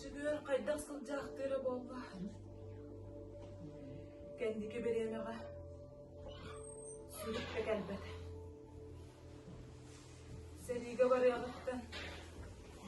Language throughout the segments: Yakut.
Чүгүөн хайдах сылдьаахтыы эрэ буолла? Кэнники бириэмэҕэ сүрэххэ кэлбэт. Сэриигэ барыаҕыттан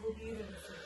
бу биир өрө суох.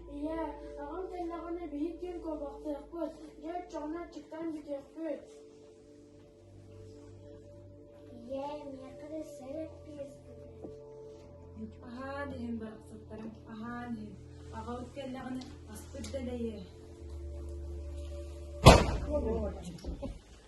Ийээ, саҕан кэллэҕинэ биһик киин куобахтыахпыт, дьэ оччоҕуна аччыктан бүтүөхпүт. Ийээ, некоторые сэрэппиэспитин. Аһаан иһин барахсаттарым, аһаан иһин. Аҕабыт кэллэҕинэ аспыт дэлэйэ.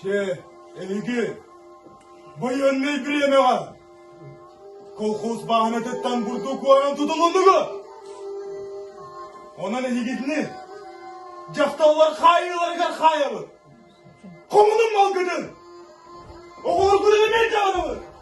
Чэ, эһиги байыаннай бириэмэҕэ колхоз бааһынатыттан бурдук уоран тутулуннугу? Онон эһигитини дьахталлар хаайыыларыгар хаайабыт. Хомунун малгытын, оҕолоргутун эмиэ дьаҕанабыт.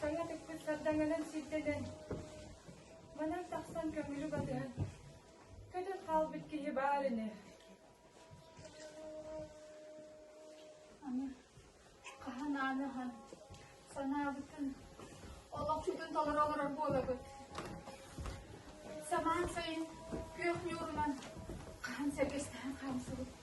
Саҥа тыкпыттардан өлөн сирдэнэн, манан тахсан көҥүлү батыһан, көтөн хаалбыт киһи баар ини. Аны хаһан ааны ахан санаабытын олохпутун толоро олорор буолабыт. Самаан сайын күөх ньуурунан хаһан сэргэстэһэн хаамсыбыт.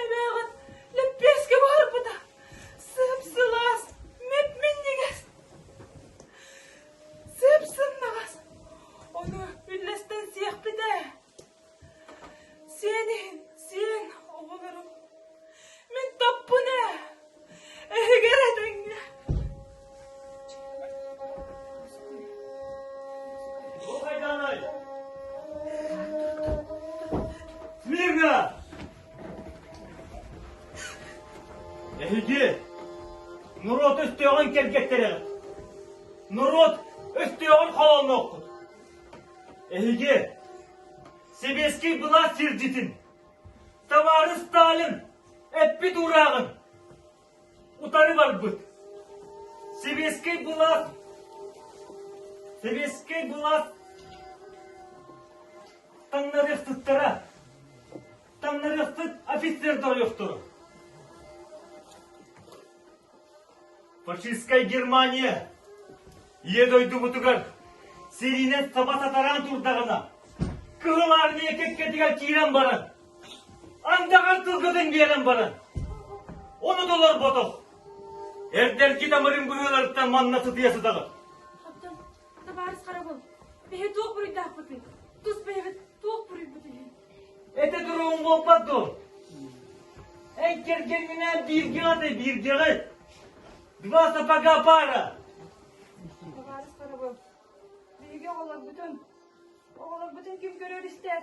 Эбээҕин лэппиэскэ баарбыта. Сып-сылаас, мэп-минньигэс. Сып-сымнаҕас. Ону үллэстэн сиэхпит ээ. Сиэн иһин сиэн, оҕолорум. Мин топпун ээ. Эһигэр этэҥҥэ Мирна! Эһиги норуот өстөөҕүн кэргэттэрэ! Норуот өстөөҕүн холонноххут! Эһиги сэбиэскэй былаас сирдьитин! Табаарыстаалым, эппит уурааҕым утары барбыт. Сэбиэскэй былаас Сэбиэскэй былаас таҥнарыахтыттара. Таҥнарыахтыт офицер да ойохторо. Фашистскай Германия Ийэ дойдубутугар сэриинэн таба татараан турдаҕына, Кыһыл Армия кэккэтигэр киирэн баран, андаҕар тылгытын биэрэн баран, ону толорботох, эрдэрги тамырын быһыыларыттан манна сытыйа сытаҕыт. Хаптан, табаарыс харабыл, бэһи туох буруйдаахпытый? Тус бэйэбит туох буруйбут үһү? Эте туругуҥ буолбат дуо? Эн кэргэҥҥинээн бииргэ аты бииргэҕит. Два сапога пара. Товарищ Карабов, биһиги оҕолорбутун, оҕолорбутун ким көрөр истэр?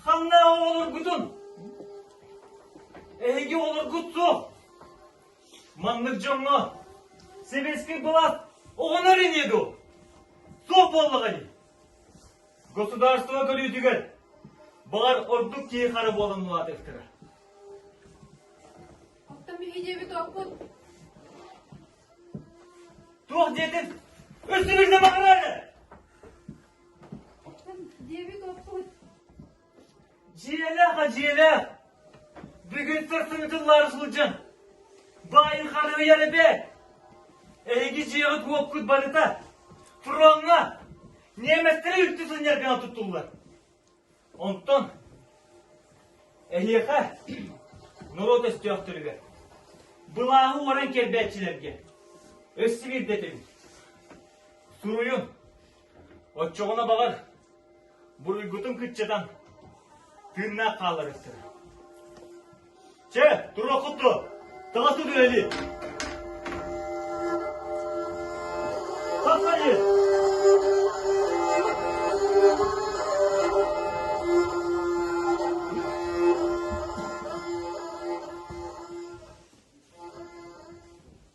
Ханна оҕолоргутун? Эһиги оҕолоргут суох. Маннык дьоҥҥо сэбиэскэй былаат оҕонор ини ду. Суох буоллаҕа ини. Государство көрүүтүгэр, баҕар, ордук киһи-хара буолан улаатыахтара. Оттон биһи диэбит окпут. Туох диэтин үстүбүрдэ баҕарары? Оттон диэбит окпут. Дьиэлээх-а дьиэлээх, бүгүнтэн сымыытын улаара сылдьан, баайыхаларыйар эбээт! Эһиги дьиэҕит-уоккут барыта фроҥҥа, ньиэмэстэри үлтү сынньар гына туттуллар. Онтон эһиэхэ, норуот өстөөхтөрүгэр, былааһы уоран кэлбээччилэргэ өссө биирдэтин, суруйун, Оччоҕуна, баҕар, буруйгутун кыччатан, тыыннаах хаалларыахтара. Чэ, туруоххут дуо? Таҕыста түһэлии! Тахсайы!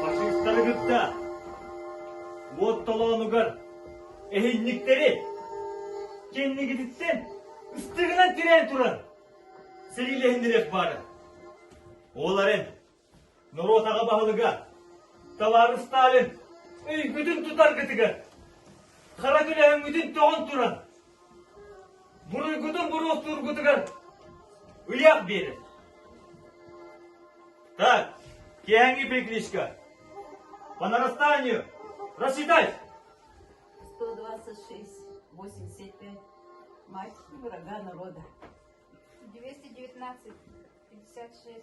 Фашистары кытта уот толоонугар эһинниктэри кэннигититсен ыстыгынан тирээн туран сэлиилэһиннэриэх баара. Ол эрэн Норуотаҕа баһылыга Талаары Сталин өйгүтүн тутаргытыгар хара күлэһиҥҥитин тоҕон туран буруйгутун буруостуургутугар ыйаах биэрэр. Так, киэһэҥҥи перекличка. По нарастанию! Расчитай! 126, 85, мальчики врага народа. 219, 56,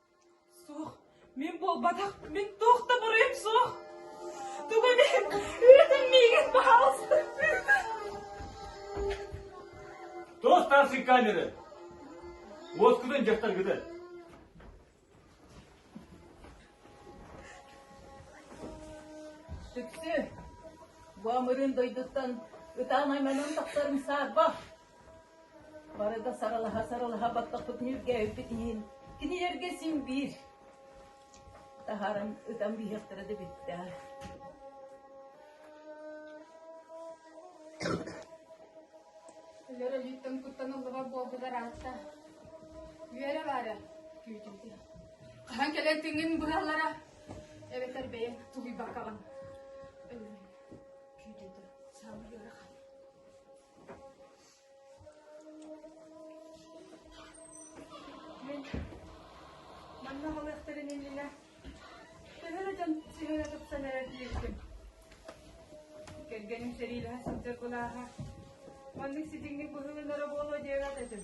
Суох, мин буолбатах, мин туох да буруйум суох. Тугу диэн, үөтэн миигин баһаалыста. Тос таарсык камеры. Уоскутун дьахтаргыты. Сүксү, бу амырын дойдуттан ытаан айманан тахтарын саарба. Барыта сарылаһа-сарылаһа баттаппыт ньүргээбиппит иһин, кинилэргэ син биир таһааран ытан биһиэхтэрэ да бүттэ Өлөр өлүүттэн куттан ыллыбар буолбутар аатта. Үөрэ баара күүтүлдэ. Хаһан кэлэн тиҥин быһалара эбэтэр бэйэн тулуйбакаҕын. Өлөрөн күүтүтэ саамай ыарахан. Манна балыахтарын иннинэ төһө да дьон сиһэнэ тупсан эрэр диирdim. Кэргэним сэриилэһэ сылдьар былааһа, маннык ситиҥник быһылынара буолуо диэбэт этим.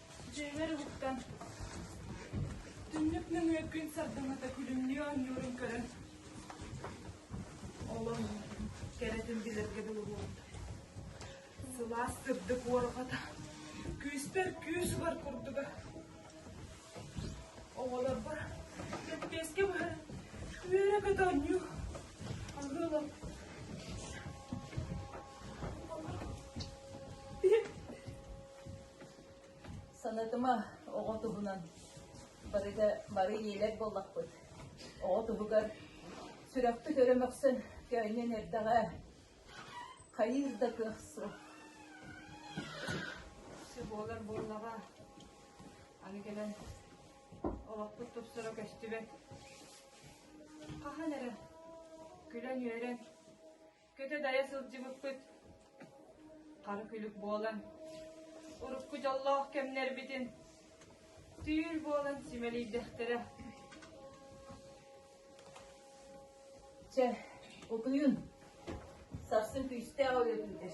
Дьиэбэр уктан, түннүк нөҥүөккүн сардаҥата күлүмнүү оонньуурун көрөн, олом кэрэтин билэргэ дылы буолбут. Сылаас сырдык уорҕата, күүспэр күүс-бар курдуга. Оҕолорбор кэппиэскэ быһан үөрэ-көтө оонньуу, аһыылам. Санатыма, оҕо туһунан барыта бары ийэлэр буоллахпыт. Оҕо туһугар сүрэхпит өрө мөхсөн көөнньөн эрдэҕэ, хайыыр да кыах суох. Сы буолар буоллаҕа, аны кэлэн олохпут тупсара көстүбэт. Хаһан эрэ күлэн-үөрэн, Көтө-дайа сылдьыбыппыт хара күлүк буолан, урукку дьоллоох кэмнэрбитин түүл буолан симэлийдэхтэрэ. Чэ, утуйун. Сарсын күүстээх ойотунэр.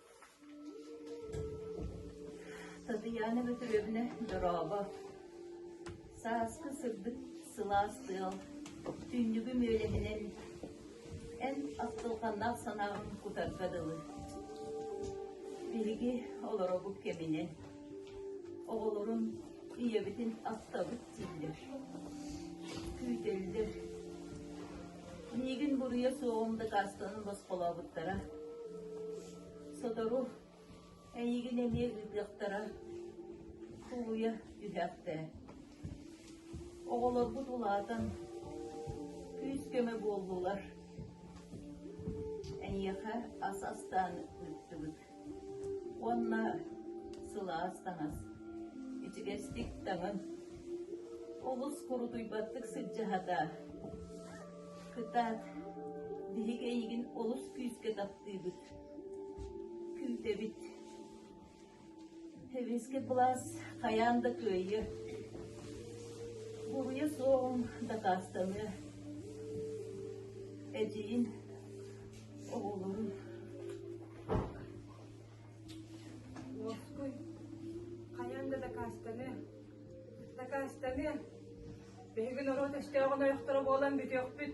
Татьяна Петровна дорообо! Сааскы сырдык сылаас тыал түннүгү мүөлэһинэн эн ахтылҕаннаах санааҕын кутарга дылы. Биһиги олоробут кэминэн. Оҕолорун, ийэбитин ахтабыт дииллэр. Күүтэллэр. Миигин буруйа суоҕун дакаастанан босхолообуттара. Сотору эйигин эмиэ ыытыахтара. Кулуйа түһээхтээ. Оҕолорбут улаатан күүс-көмө буоллулар. Эйиэхэ ас астаан ыыттыбыт. уонна сылаас таҥас, ичигэстик таҥын, олус курутуйбаттык сыдьаһата. Кытаат, биһик эйигин олус күүскэ таптыыбыт. Күүтэбит. Тэбискэ былаас хайаан да кыайыа. Буруйа суоҕун дакаастаныа. Эдьиийин Ловской, хайан да дакаастаны, дакаастаны, биһиги норуот өстөөҕүн ойохторо буолан бүтүөхпүт.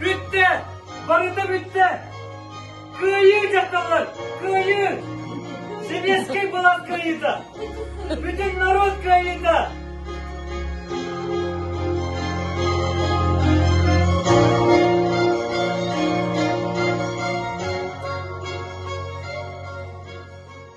Бүттэ! Барыта бүттэ! Кыайыы дьахталлар! Кыайыы! Сэбиэскэй былаан кыайыыта! Бүтүн народ кыайыыта!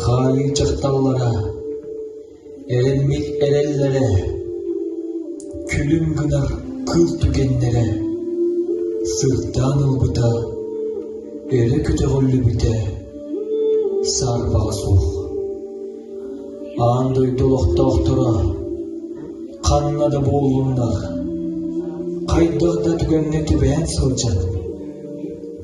хаайыы дьахталлара эрэммит эрэллэрэ күлүм гынар кыл түгэннэрэ сырдаан ылбыта өрө көтөҕүллүбүтэ саарбаҕа суох аан дойду олохтоохторо ханна да буоллуннар хайдах да түгэҥҥэ түбээн сылдьан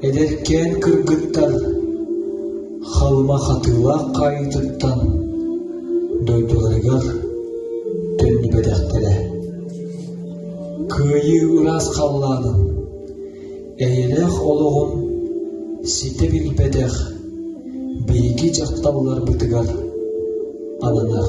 Эдэркээн кыргыттан, Халыма Хатыылаах хаайыытыттан дойдуларыгар төннүбэтэхтэрэ. Кыайыы ыраас халлаанын, эйэлээх олоҕун ситэ билбэтэх биһиги дьахталларбытыгар ананар.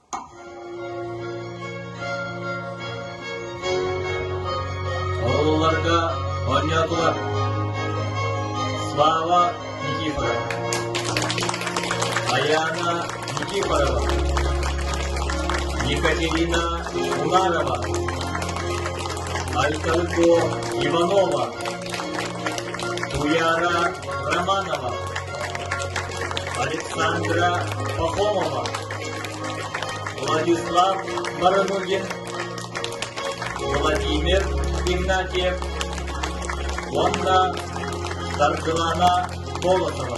Оҕолорго оонньоотулар Слава Никифорова Аяна Никифорова Екатерина Унарова Айталко Иванова Туяра Романова Александра Пахомова Владислав Баранугин, Владимир Игнатьев уонна Саргылана Колосова.